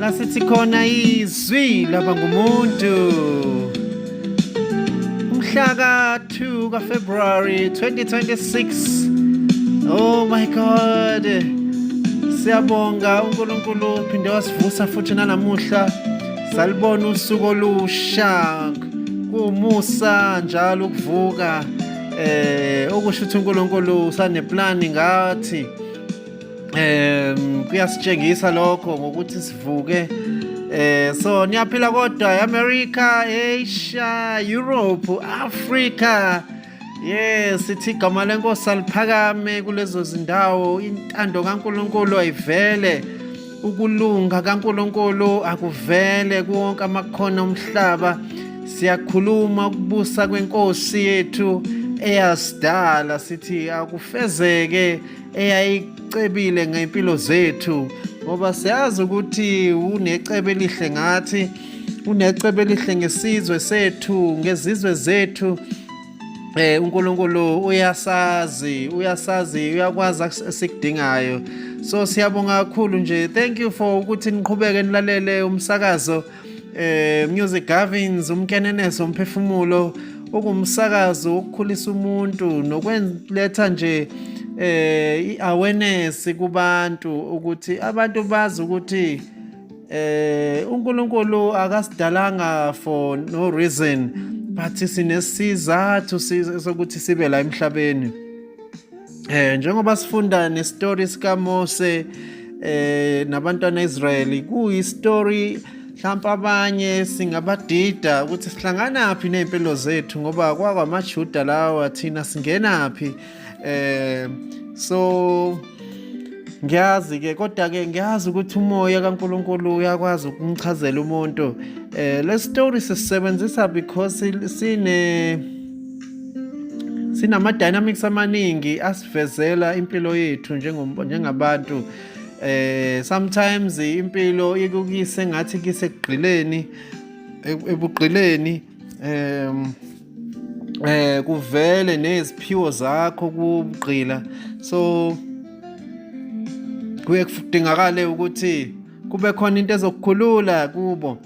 lasithi khona izwi laba ngumuntu umhla ka-2 kafebruary 2026 oh my god siyabonga unkulunkulu phinde wasivusa futhi nanamuhla salibona usuku olusha kuwumusa njalo ukuvuka eh okusho ukuthi uNkulunkulu usaneplani ngathi um kuyasitshengisa lokho ngokuthi sivuke Eh so niyaphila kodwa eAmerica, Asia, Europe, Africa. Yes, sithi igama lenkosi aliphakame kulezo zindawo, intando kaNkuluNkulu ayivele. Ukulunga kaNkuluNkulu akuvele kuwonke amakhono omhlaba. Siyakhuluma ukubusa kwenkosi yethu eyasidala sithi akufezeke eyayicebile ngempilo zethu ngoba siyazi ukuthi unecebo elihle ngathi unecebo elihle ngesizwe sethu ngezizwe zethu eh uNkulunkulu uyasazi uyasazi uyakwazi asikudingayo so siyabonga kakhulu nje thank you for ukuthi niqhubeke nilalele umsakazo Eh Music Gavins umkeneneso umphefumulo ungumsakazo wokukhulisa umuntu nokwenletha nje eh iawareness kubantu ukuthi abantu bazi ukuthi eh uNkulunkulu akasidalanga for no reason but sinesizathu sokuthi sibe la emhlabeni Eh njengoba sifunda nestory sika Mose eh nabantwana Israeli kuyi story mhlawumbe abanye singabadida ukuthi sihlangana phi nezimpilo zethu ngoba kwakwamaJuda lawa thina singena phi eh so ngiyazi ke kodwa ke ngiyazi ukuthi umoya kaNkuluNkulu uyakwazi ukumchazela umuntu eh le story sisebenzisa because sine sinama-dynamics amaningi asivezela impilo yethu njengabantu eh sometimes impilo ikukise ngathi kisekugqileni ebugqileni um eh kuvele neziphiwo zakho kubugqila so kuye kudingakale ukuthi kube khona into ezokukhulula kubo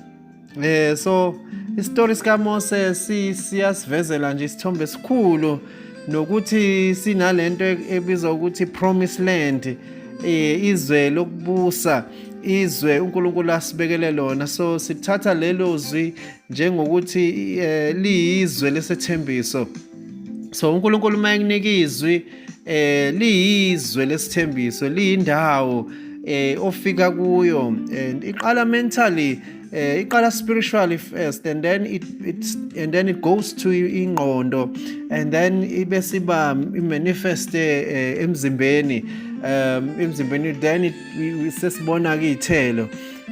Eh so isitori sika Mose siyasivezela nje isithombe esikhulu nokuthi sinalento ebizwa ukuthi promise land eh, izwe lokubusa izwe uNkulunkulu asibekele lona so sithatha lelo zwi njengokuthi eh, liyizwe lesethembiso so uNkulunkulu uma ekunika izwi eh liyizwe lesithembiso liyindawo eh ofika kuyo and iqala mentally eh iqala spiritually first and then it it's and then it goes to ingqondo and then ibe siba manifest eh, emzimbeni um emzimbeni then it sesibona ke ithelo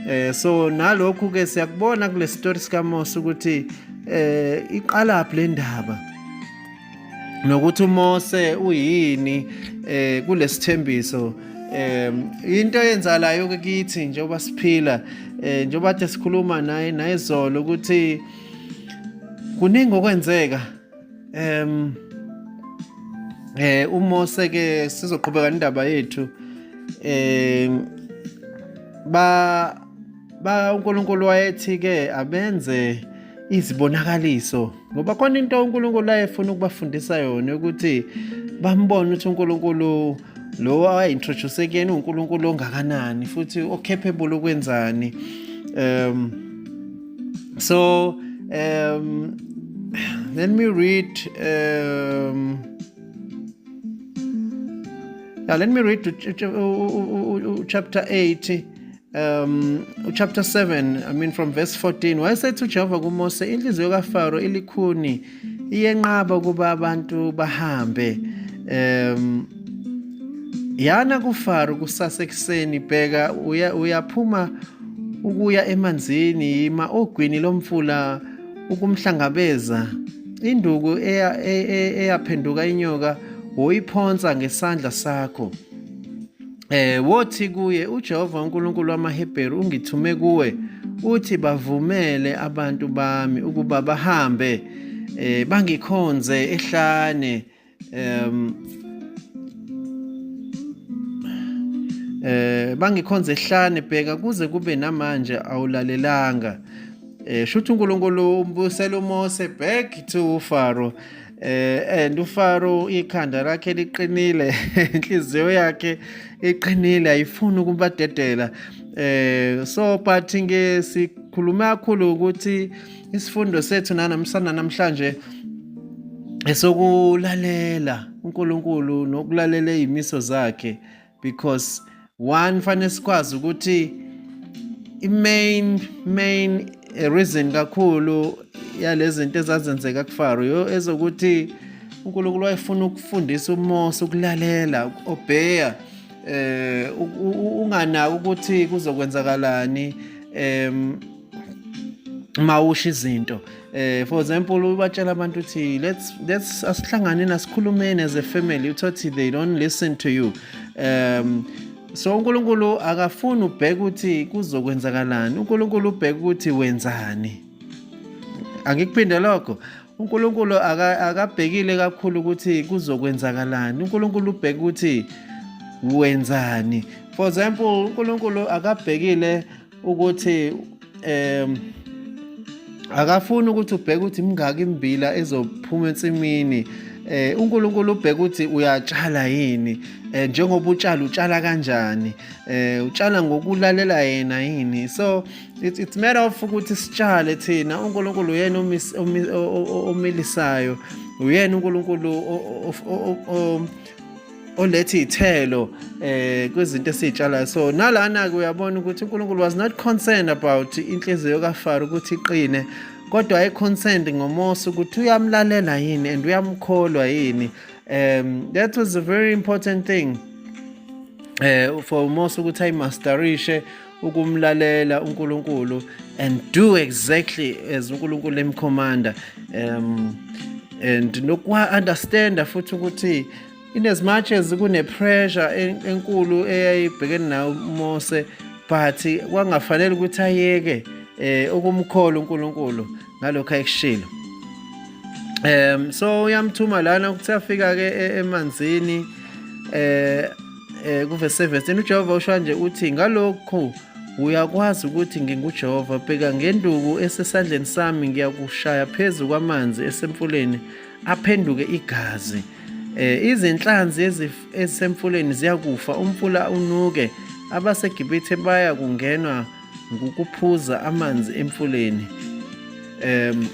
eh so nalokhu ke siyakubona kule story sikaMose ukuthi eh iqalaphi le ndaba nokuthi uMose uyini eh kulesithembiso eh into eyenzalayo ke kithi njengoba siphila eh njengoba kade sikhuluma naye nayizolo ukuthi kuningi okwenzeka em eh uMose ke sizoqhubeka indaba yethu eh ba ba uNkulunkulu wayethi ke abenze izibonakaliso ngoba khona into uNkulunkulu ayefuna ukubafundisa yona ukuthi bambone ukuthi uNkulunkulu lowo awayi-introduce kuyena uNkulunkulu ongakanani futhi o-capable ukwenzani um so um let me read um yeah, let me read to, to, to, to, chapter 8 um uchapter 7 i mean from verse 14 wayesethi ujehova kumose inhliziyo kafaro ilikhuni iyenqaba ukuba abantu bahambe um yana kufaro kusasa ekuseni bheka uyaphuma ukuya emanzini yima ogwini lomfula ukumhlangabeza induku e, e, eyaphenduka inyoka woyiphonsa ngesandla sakho eh wothi kuye uJehova uNkulunkulu wamaHebheru ungithume kuwe uthi bavumele abantu bami ukuba bahambe eh bangikhonze ehlane em eh bangikhonze ehlane bheka kuze kube namanje awulalelanga eh shuthi uNkulunkulu umbusela uMose back to Faro eh and uFaro ikhanda lakhe liqinile inhliziyo yakhe iqinile ayifuni ukubadedela eh so but nge sikhuluma kakhulu ukuthi isifundo sethu nanamsana namhlanje esokulalela uNkulunkulu nokulalela izimiso zakhe because one fanele sikwazi ukuthi i-main main reason kakhulu yalezinto ezazenzeka kufaro yo ezokuthi uNkulunkulu wayefuna ukufundisa uMose ukulalela ukuobeya eh unganaki ukuthi kuzokwenzakalani em mawusha izinto eh for example ubatshela abantu ukuthi let's let's asihlangane nasikhulumeni as a family uthothi they don't listen to you um so uNkulunkulu akafuni ubheke ukuthi kuzokwenzakalani uNkulunkulu ubheke ukuthi wenzani angikuphinde lokho uNkulunkulu akabhekile kakhulu ukuthi kuzokwenzakalani uNkulunkulu ubheke ukuthi wenzani for example uNkulunkulu akabhekile ukuthi um akafuni ukuthi ubheke ukuthi mingaki imbila ezophuma ensimini eh uNkulunkulu ubheka ukuthi uyatshala yini eh njengoba utshala utshala kanjani eh utshala ngokulalela yena yini so it's it's matter of ukuthi sitshale thina uNkulunkulu uyena omilisayo uyena uNkulunkulu oletha iy'thelo eh kwezinto esiy'tshalayo so nalana-ke uyabona ukuthi unkulunkulu was not concerned about inhliziyo kafaro ukuthi iqine kodwa ayi-concerned ngomosi ukuthi uyamlalela yini and uyamkholwa yini um that was a very important thing eh for umosi ukuthi ayimasterishe ukumlalela uNkulunkulu and do exactly as uNkulunkulu emkhomanda um and nokwa understand futhi ukuthi in as much as kune pressure enkulu eyayibhekene nayo uMose but kwangafanele ukuthi ayeke eh ukumkhola uNkulunkulu ngalokho ayekushilo um so uyamthuma lana ukuthi afika ke e-, emanzini eh eh kuvese verse uJehova usho kanje uthi ngalokho uyakwazi ukuthi nginguJehova bheka ngenduku esesandleni sami ngiyakushaya phezu kwamanzi esemfuleni aphenduke igazi eh izinhlanzi ezisemfuleni ziyakufa umfula unuke abaseGibithe baya kungenwa ngukuphuza amanzi emfuleni em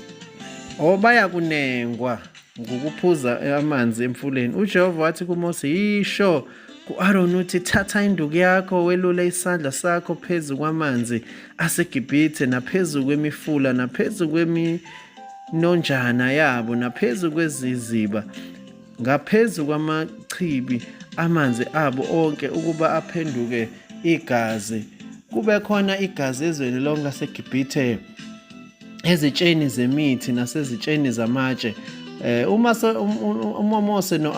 obaya kunengwa ngokuphuza amanzi emfuleni ujehova wathi kumose yisho ku-aroni uthi thatha induku yakho welule isandla sakho phezu kwamanzi asegibhithe naphezu kwemifula naphezu kweminonjana yabo naphezu kweziziba ngaphezu kwamachibi amanzi abo onke ukuba aphenduke igazi kube khona igazi ezweni lonke laseGibhithe ezitsheni zemithi nasezitsheni zamatshe eh, uma uMose no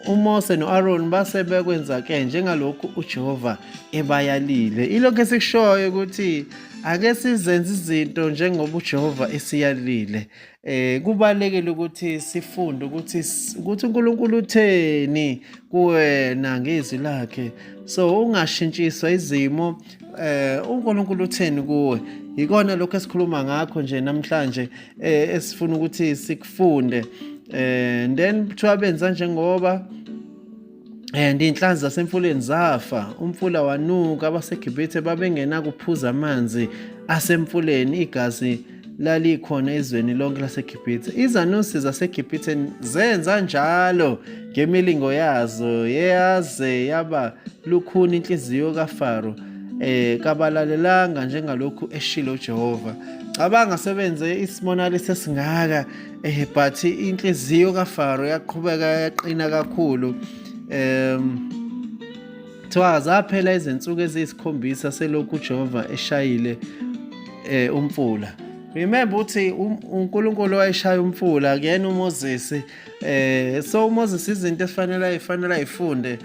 uMose noAron base bekwenza ke njengalokhu uJehova ebayalile ilokho esikushoyo ukuthi ake sizenze izinto njengoba uJehova esiyalile eh kubalekile ukuthi sifunde ukuthi ukuthi uNkulunkulu utheni kuwena ngezwi lakhe so ungashintshiswa izimo eh uNkulunkulu utheni kuwe yikona lokho esikhuluma ngakho nje namhlanje eh esifuna ukuthi sikufunde eh then kuthiwa benza njengoba And inhlanzi zasemfuleni zafa, umfula wanuka, abaseGibhithe babengenakuphuza amanzi asemfuleni, igazi lalikhona ezweni lonke laseGibhithe. Izanuse zaseGibhithe zenza njalo ngemilingo yazo, yaze yaba lukhuni inhliziyo kaFaro, eh kabalalelanga njengalokhu eshilo uJehova. Cabanga sebenze isibonakaliso esingaka eh but inhliziyo kaFaro yaqhubeka yaqina kakhulu um kuthiwa zaphela izinsuku eziyisikhombisa selokhu uJehova eshayile eh umfula remember ukuthi um, uNkulunkulu wayeshaya umfula kuyena uMoses eh so uMoses izinto efanele ayifanele ayifunde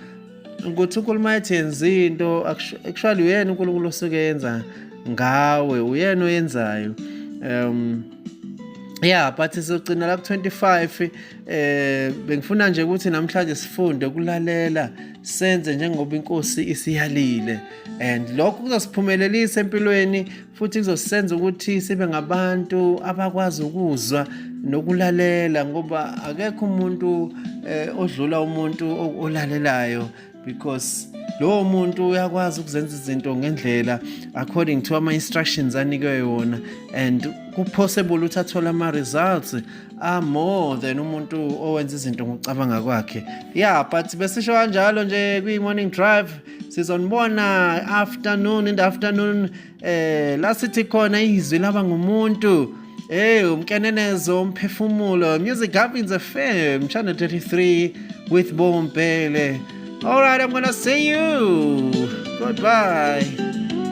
ukuthi unkulumo ayethi yenza into actually uyena unkulunkulu osuke yenza ngawe uyena oyenzayo um yeah but sizogcina la ku-25 eh bengifuna nje ukuthi namhlanje sifunde ukulalela senze njengoba inkosi isiyalile and lokho kuzosiphumelelisa empilweni futhi kuzosenza ukuthi sibe ngabantu abakwazi ukuzwa nokulalela ngoba akekho umuntu eh, odlula umuntu olalelayo because lowo muntu uyakwazi ukuzenza izinto ngendlela according to ama-instructions anikwe yona and kupossible ukuthi athole ama-results amore than umuntu owenza izinto ngokucabanga kwakhe ya yeah, but besisho kanjalo nje kwi-morning drive sizonibona afternoon in the afternoon eh la sithi khona izwi laba ngumuntu Hey umkenenezo umphefumulo music happens FM channel 33 with Bombele All right I'm going to see you goodbye